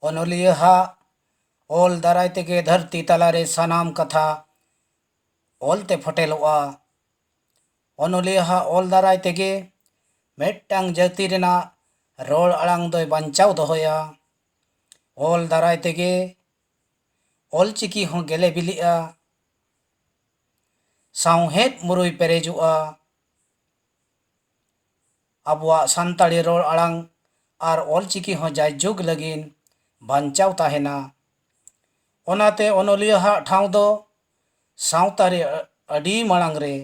ᱚᱱᱚᱞᱤᱭᱟᱹ ᱦᱟᱜ ᱚᱞ ᱫᱟᱨᱟᱭ ᱛᱮᱜᱮ ᱫᱷᱟᱹᱨᱛᱤ ᱛᱟᱞᱟᱨᱮ ᱥᱟᱱᱟᱢ ᱠᱟᱛᱷᱟ ᱚᱞᱛᱮ ᱯᱷᱚᱴᱮᱞᱚᱜᱼᱟ ᱚᱱᱚᱞᱤᱭᱟᱹ ᱦᱟᱜ ᱚᱞ ᱫᱟᱨᱟᱭ ᱛᱮᱜᱮ ᱢᱤᱫᱴᱟᱝ ᱡᱟᱹᱛᱤ ᱨᱮᱱᱟᱜ ᱨᱚᱲ ᱟᱲᱟᱝ ᱫᱚᱭ ᱵᱟᱧᱪᱟᱣ ᱫᱚᱦᱚᱭᱟ ᱚᱞ ᱫᱟᱨᱟᱭ ᱛᱮᱜᱮ ᱚᱞ ᱪᱤᱠᱤ ᱦᱚᱸ ᱜᱮᱞᱮ ᱵᱤᱞᱤᱜᱼᱟ ᱥᱟᱶᱦᱮᱫ ᱢᱩᱨᱟᱹᱭ ᱯᱮᱨᱮᱡᱚᱜᱼᱟ ᱟᱵᱚᱣᱟᱜ ᱥᱟᱱᱛᱟᱲᱤ ᱨᱚᱲ ᱟᱲᱟᱝ ᱟᱨ ᱚᱞ ᱪᱤᱠᱤ ᱦᱚᱸ ᱡᱟᱭ ᱡᱩᱜᱽ ᱞᱟᱹᱜᱤᱫ ᱵᱟᱧᱪᱟᱣ ᱛᱟᱦᱮᱱᱟ ᱚᱱᱟᱛᱮ ᱚᱱᱚᱞᱤᱭᱟᱹ ᱦᱟᱜ ᱴᱷᱟᱶ ᱫᱚ ᱥᱟᱶᱛᱟ ᱨᱮ ᱟᱹᱰᱤ ᱢᱟᱲᱟᱝ ᱨᱮ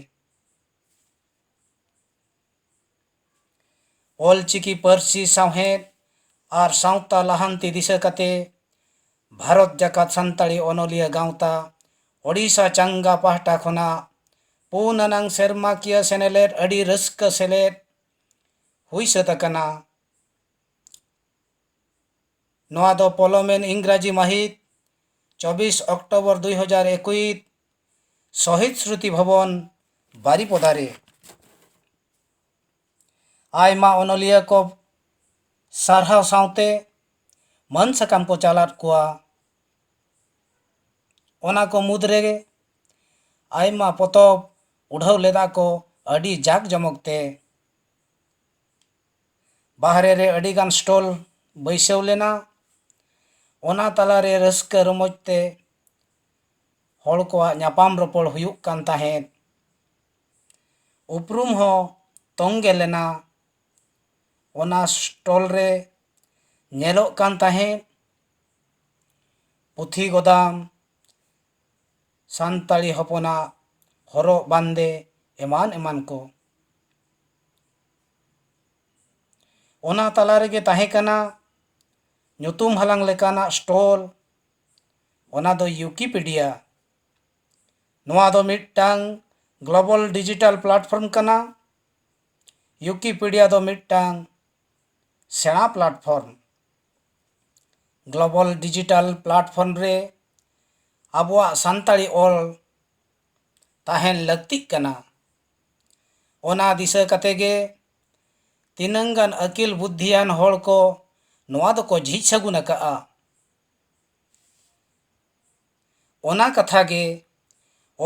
ᱚᱞᱪᱤᱠᱤ ᱯᱟᱹᱨᱥᱤ ᱥᱟᱶᱦᱮᱫ ᱟᱨ ᱥᱟᱶᱛᱟ ᱞᱟᱦᱟᱱᱛᱤ ᱫᱤᱥᱟᱹ ᱠᱟᱛᱮ ᱵᱷᱟᱨᱚᱛ ᱡᱟᱠᱟᱛ ᱥᱟᱱᱛᱟᱲᱤ ᱚᱱᱚᱞᱤᱭᱟᱹ ᱜᱟᱶᱛᱟ ᱳᱰᱤᱥᱟ ᱪᱟᱝᱜᱟ ᱯᱟᱦᱴᱟ ᱠᱷᱚᱱᱟᱜ ᱯᱩᱱ ᱟᱱᱟᱝ ᱥᱮᱨᱢᱟᱠᱤᱭᱟᱹ ᱥᱮᱱᱮᱞᱮᱫ ᱟᱹᱰᱤ ᱨᱟᱹᱥᱠᱟᱹ ᱥᱮᱞᱮᱫ ᱦᱩᱭ ᱥᱟᱹᱛ ᱟᱠᱟᱱᱟ ᱱᱚᱣᱟ ᱫᱚ ᱯᱚᱞᱚᱢᱮᱱ ᱤᱝᱨᱟᱡᱤ ᱢᱟᱹᱦᱤᱛ ᱪᱚᱵᱤᱥ ᱚᱠᱴᱚᱵᱚᱨ ᱫᱩᱭ ᱦᱟᱡᱟᱨ ᱮᱠᱩᱭᱤᱛ ᱥᱚᱦᱤᱫ ᱥᱨᱩᱛᱤ ᱵᱷᱚᱵᱚᱱ ᱵᱟᱨᱤᱯᱚᱫᱟ ᱨᱮ ᱟᱭᱢᱟ ᱚᱱᱚᱞᱤᱭᱟᱹ ᱠᱚ ᱥᱟᱨᱦᱟᱣ ᱥᱟᱶᱛᱮ ᱢᱟᱹᱱ ᱥᱟᱠᱟᱢ ᱠᱚ ᱪᱟᱞᱟᱫ ᱠᱚᱣᱟ ᱚᱱᱟ ᱠᱚ ᱢᱩᱫᱽ ᱨᱮᱜᱮ ᱟᱭᱢᱟ ᱯᱚᱛᱚᱵ ᱩᱰᱷᱟᱹᱣ ᱞᱮᱫᱟ ᱠᱚ ᱟᱹᱰᱤ ᱡᱟᱠ ᱡᱚᱢᱚᱠ ᱛᱮ ᱵᱟᱦᱨᱮ ᱨᱮ ᱟᱹᱰᱤ ᱜᱟᱱ ᱥᱴᱚᱞ ᱵᱟᱹᱭᱥᱟᱹᱣ ᱞᱮᱱᱟ ᱚᱱᱟ ᱛᱟᱞᱟ ᱨᱮ ᱨᱟᱹᱥᱠᱟᱹ ᱨᱚᱢᱚᱡᱽ ᱛᱮ ᱦᱚᱲ ᱠᱚᱣᱟᱜ ᱧᱟᱯᱟᱢ ᱨᱚᱯᱚᱲ ᱦᱩᱭᱩᱜ ᱠᱟᱱ ᱛᱟᱦᱮᱸᱫ ᱩᱯᱨᱩᱢ ᱦᱚᱸ ᱛᱚᱝᱜᱮ ᱞᱮᱱᱟ ᱚᱱᱟ ᱥᱴᱚᱞ ᱨᱮ ᱧᱮᱞᱚᱜ ᱠᱟᱱ ᱛᱟᱦᱮᱸᱫ ᱯᱩᱛᱷᱤ ᱜᱚᱫᱟᱢ ᱥᱟᱱᱛᱟᱲᱤ ᱦᱚᱯᱚᱱᱟᱜ ᱦᱚᱨᱚᱜ ᱵᱟᱸᱫᱮ ᱮᱢᱟᱱ ᱮᱢᱟᱱ ᱠᱚ ᱚᱱᱟ ᱛᱟᱞᱟ ᱨᱮᱜᱮ ᱛᱟᱦᱮᱸ ᱠᱟᱱᱟ ᱧᱩᱛᱩᱢ ᱦᱟᱞᱟᱝ ᱞᱮᱠᱟᱱᱟᱜ ᱥᱴᱚᱞ ᱚᱱᱟ ᱫᱚ ᱭᱩᱠᱤᱯᱤᱰᱤᱭᱟ ᱱᱚᱣᱟ ᱫᱚ ᱢᱤᱫᱴᱟᱝ ᱜᱞᱳᱵᱟᱞ ᱰᱤᱡᱤᱴᱟᱞ ᱯᱞᱟᱴᱯᱷᱚᱨᱢ ᱠᱟᱱᱟ ᱭᱩᱠᱤᱯᱤᱰᱤᱭᱟ ᱫᱚ ᱢᱤᱫᱴᱟᱝ ᱥᱮᱬᱟ ᱯᱞᱟᱴᱯᱷᱚᱨᱢ ᱜᱞᱳᱵᱟᱞ ᱰᱤᱡᱤᱴᱟᱞ ᱯᱞᱟᱴᱯᱷᱚᱨᱢ ᱨᱮ ᱟᱵᱚᱣᱟᱜ ᱥᱟᱱᱛᱟᱲᱤ ᱚᱞ ᱛᱟᱦᱮᱱ ᱞᱟᱹᱠᱛᱤᱜ ᱠᱟᱱᱟ ᱚᱱᱟ ᱫᱤᱥᱟᱹ ᱠᱟᱛᱮ ᱜᱮ ᱛᱤᱱᱟᱹᱝ ᱜᱟᱱ ᱟᱹᱠᱤᱞ ᱵᱩᱫᱽᱫᱷᱤᱭᱟᱱ ᱦᱚᱲ ᱠᱚ ᱱᱚᱣᱟ ᱫᱚᱠᱚ ᱡᱷᱤᱡ ᱥᱟᱹᱜᱩᱱ ᱟᱠᱟᱫᱼᱟ ᱚᱱᱟ ᱠᱟᱛᱷᱟ ᱜᱮ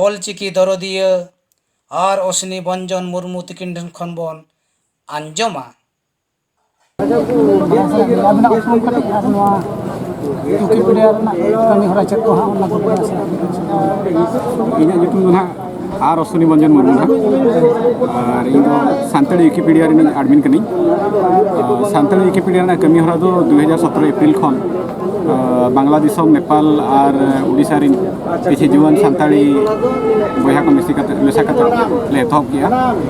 ᱚᱞ ᱪᱤᱠᱤ ᱫᱚᱨᱚᱫᱤᱭᱟᱹ ᱟᱨ ᱚᱥᱱᱤ ᱵᱚᱧᱡᱚᱱ ᱢᱩᱨᱢᱩ ᱛᱤᱠᱤᱱ ᱴᱷᱮᱱ ᱠᱷᱚᱱ ᱵᱚᱱ ᱟᱸᱡᱚᱢᱟ ᱟᱨ ᱚᱥᱩᱱᱤ ᱢᱚᱱᱡᱚᱱ ᱢᱩᱨᱢᱩ ᱟᱨ ᱤᱧ ᱫᱚ ᱥᱟᱱᱛᱟᱲᱤ ᱣᱤᱠᱤᱯᱤᱰᱤᱭᱟ ᱨᱮᱱᱤᱧ ᱟᱰᱢᱤᱱ ᱠᱟᱹᱱᱟᱹᱧ ᱥᱟᱱᱛᱟᱲᱤ ᱣᱤᱠᱤᱯᱤᱰᱤᱭᱟ ᱨᱮᱱᱟᱜ ᱠᱟᱹᱢᱤ ᱦᱚᱨᱟ ᱫᱚ ᱫᱩ ᱦᱟᱡᱟᱨ ᱥᱚᱛᱨᱚ ᱮᱯᱨᱤᱞ ᱠᱷᱚᱱ ᱵᱟᱝᱞᱟ ᱫᱤᱥᱚᱢ ᱱᱮᱯᱟᱞ ᱟᱨ ᱩᱲᱤᱥᱥᱟ ᱨᱮᱱ ᱠᱤᱪᱷᱩ ᱡᱩᱣᱟᱹᱱ ᱥᱟᱱᱛᱟᱲᱤ ᱵᱚᱭᱦᱟ ᱠᱚ ᱢᱮᱥᱟ ᱠᱟᱛᱮ ᱞᱮ ᱮᱛᱚᱦᱚᱵ ᱠᱮᱜᱼᱟ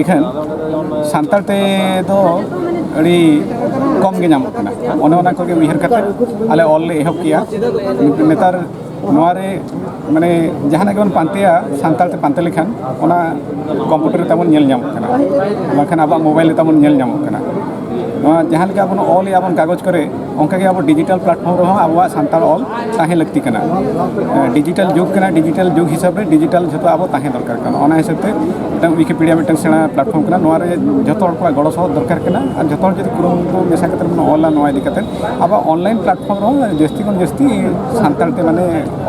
ᱤᱠᱷᱟᱹᱱ ᱥᱟᱱᱛᱟᱲ ᱛᱮ ᱫᱚ ᱟᱹᱰᱤ ᱠᱚᱢ ᱜᱮ ᱧᱟᱢᱚᱜ ᱠᱟᱱᱟ ᱚᱱᱮ ᱚᱱᱟ ᱠᱚᱜᱮ ᱩᱭᱦᱟᱹᱨ ᱠᱟᱛᱮ ᱟᱞᱮ ᱚᱞ ᱞᱮ ᱮᱦᱚᱵ ᱠᱮᱜᱼᱟ ᱱᱮᱛᱟᱨ ᱱᱚᱣᱟ ᱨᱮ ᱢᱟᱱᱮ ᱡᱟᱦᱟᱱᱟᱜ ᱜᱮᱵᱚᱱ ᱯᱟᱱᱛᱮᱭᱟ ᱥᱟᱱᱛᱟᱲ ᱛᱮ ᱯᱟᱱᱛᱮ ᱞᱮᱠᱷᱟᱱ ᱚᱱᱟ ᱠᱚᱢᱯᱩᱴᱟᱨ ᱛᱟᱵᱚᱱ ᱧᱮᱞ ᱧᱟᱢᱚᱜ ᱠᱟᱱᱟ ᱵᱟᱝᱠᱷᱟᱱ ᱟᱵᱚᱣᱟᱜ ᱢᱳᱵᱟᱭᱤᱞ ᱨᱮ ᱛᱟᱵᱚᱱ ᱧᱮᱞ ᱧᱟᱢᱚᱜ ᱠᱟᱱᱟ ᱱᱚᱣᱟ ᱡᱟᱦᱟᱸ ᱞᱮᱠᱟ ᱵᱚᱱ ᱚᱞᱮᱜᱼᱟ ᱵᱚᱱ ᱠᱟᱜᱚᱡᱽ ᱠᱚᱨᱮ ᱚᱱᱠᱟᱜᱮ ᱟᱵᱚ ᱰᱤᱡᱤᱴᱟᱞ ᱯᱞᱟᱴᱯᱷᱚᱨᱢ ᱨᱮᱦᱚᱸ ᱟᱵᱚᱣᱟᱜ ᱥᱟᱱᱛᱟᱲ ᱚᱞ ᱛᱟᱦᱮᱸ ᱞᱟᱹᱠᱛᱤ ᱠᱟᱱᱟ ᱰᱤᱡᱤᱴᱟᱞ ᱡᱩᱜᱽ ᱠᱟᱱᱟ ᱰᱤᱡᱤᱴᱟᱞ ᱡᱩᱜᱽ ᱦᱤᱥᱟᱹᱵ ᱨᱮ ᱰᱤᱡᱤᱴᱟᱞ ᱡᱷᱚᱛᱚ ᱟᱵᱚ ᱛᱟᱦᱮᱸ ᱫᱚᱨᱠᱟᱨ ᱠᱟᱱᱟ ᱚᱱᱟ ᱦᱤᱥᱟᱹᱵ ᱛᱮ ᱢᱤᱫᱴᱟᱝ ᱣᱤᱠᱤᱯᱤᱰᱤᱭᱟ ᱢᱤᱫᱴᱟᱝ ᱥᱮᱬᱟ ᱯᱞᱟᱴᱯᱷᱚᱨᱢ ᱠᱟᱱᱟ ᱱᱚᱣᱟ ᱨᱮ ᱡᱷᱚᱛᱚ ᱦᱚᱲ ᱠᱚᱣᱟᱜ ᱜᱚᱲᱚ ᱥᱚᱦᱚᱫ ᱫᱚᱨᱠᱟᱨ ᱠᱟᱱᱟ ᱟᱨ ᱡᱷᱚᱛᱚ ᱦᱚᱲ ᱡᱩᱫᱤ ᱠᱩᱨᱩᱢᱩᱴᱩ ᱢᱮᱥᱟ ᱠᱟᱛᱮ ᱵᱚᱱ ᱚᱞᱟ ᱱᱚᱣᱟ ᱤᱫᱤ ᱠᱟᱛᱮ ᱟᱵᱚ ᱚᱱᱞᱟᱭᱤᱱ ᱯᱞᱟᱴᱯᱷᱚᱨᱢ ᱨᱮᱦᱚᱸ ᱡᱟᱹᱥᱛᱤ ᱠᱷᱚᱱ ᱡᱟᱹᱥᱛᱤ ᱥᱟᱱᱛᱟᱲ ᱛᱮ ᱢᱟᱱᱮ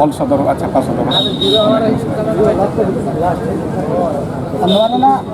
ᱚᱞ ᱥᱚᱫᱚᱨᱚᱜᱼᱟ ᱪᱷᱟᱯᱟ ᱥᱚᱫᱚᱨᱚᱜᱼᱟ ᱱᱚᱣᱟ ᱨᱮᱱᱟᱜ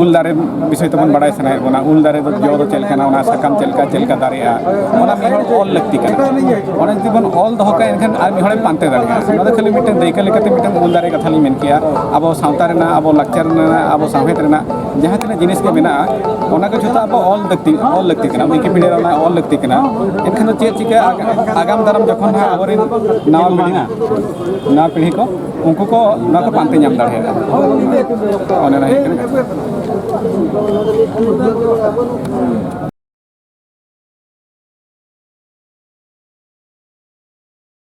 ᱩᱞ ᱫᱟᱨᱮ ᱵᱤᱥᱚᱭ ᱛᱮᱵᱚᱱ ᱵᱟᱲᱟᱭ ᱥᱟᱱᱟᱭᱮᱫ ᱵᱚᱱᱟ ᱩᱞ ᱫᱟᱨᱮ ᱫᱚ ᱡᱚ ᱫᱚ ᱪᱮᱫ ᱞᱮᱠᱟᱱᱟ ᱚᱱᱟ ᱥᱟᱠᱟᱢ ᱪᱮᱫ ᱞᱮᱠᱟ ᱪᱮᱫ ᱞᱮᱠᱟ ᱫᱟᱨᱮᱜᱼᱟ ᱚᱱᱟ ᱢᱤᱫ ᱦᱚᱲ ᱚᱞ ᱞᱟᱹᱠᱛᱤ ᱠᱟᱱᱟ ᱚᱱᱟ ᱡᱩᱫᱤ ᱵᱚᱱ ᱚᱞ ᱫᱚᱦᱚ ᱠᱟᱜᱼᱟ ᱮᱱᱠᱷᱟᱱ ᱟᱨ ᱢᱤᱫ ᱦᱚᱲᱮ ᱯᱟᱱᱛᱮ ᱫᱟᱲᱮᱭᱟᱜᱼᱟ ᱚᱱᱟ ᱫᱚ ᱠᱷᱟᱹᱞᱤ ᱢᱤᱫᱴᱮᱱ ᱫᱟᱹᱭᱠᱟᱹ ᱞᱮᱠᱟᱛᱮ ᱢᱤᱫᱴᱮᱱ ᱩᱞ ᱫᱟᱨᱮ ᱠᱟᱛᱷᱟ ᱞᱤᱧ ᱢᱮᱱ ᱠᱮᱜᱼᱟ ᱟᱵᱚ ᱥᱟᱶᱛᱟ ᱨᱮᱱᱟᱜ ᱟᱵᱚ ᱞᱟᱠᱪᱟᱨ ᱨᱮᱱᱟᱜ ᱟᱵᱚ ᱥᱟᱶᱦᱮᱫ ᱨᱮᱱᱟᱜ ᱡᱟᱦᱟᱸ ᱛᱤᱱᱟᱹᱜ ᱡᱤᱱᱤᱥ ᱠᱚ ᱢᱮᱱᱟᱜᱼᱟ ᱚᱱᱟ ᱠᱚ ᱡᱷᱚᱛᱚ ᱟᱵᱚ ᱚᱞ ᱞᱟᱹᱠᱛᱤ ᱚᱞ ᱞᱟᱹᱠᱛᱤ ᱠᱟᱱᱟ ᱣᱤᱠᱤᱯᱤᱰᱤᱭᱟ ᱨᱮ ᱚᱱᱟ ᱚᱞ ᱞᱟᱹᱠᱛᱤ ᱠᱟᱱᱟ ᱮᱱᱠᱷᱟᱱ ᱫᱚ ᱪᱮᱫ ᱪᱤᱠᱟᱹᱜᱼᱟ ᱟᱜᱟᱢ ᱫᱟᱨᱟᱢ ᱡᱚᱠᱷᱚᱱ ᱦᱟᱸᱜ ᱟᱵᱚᱨᱮᱱ ᱱᱟᱣᱟ ᱯᱤᱲᱦᱤ ᱱᱟᱣᱟ ᱯᱤᱲᱦᱤ ᱠᱚ ᱩᱱᱠᱩ ᱠᱚ ᱱᱚᱣᱟ ᱠᱚ ᱯᱟᱱᱛᱮ ᱧᱟᱢ ᱫᱟᱲᱮᱭᱟᱜᱼᱟ ᱚᱱᱮ ᱚᱱᱟ ᱦᱩᱭᱩᱜ ᱠᱟᱱᱟ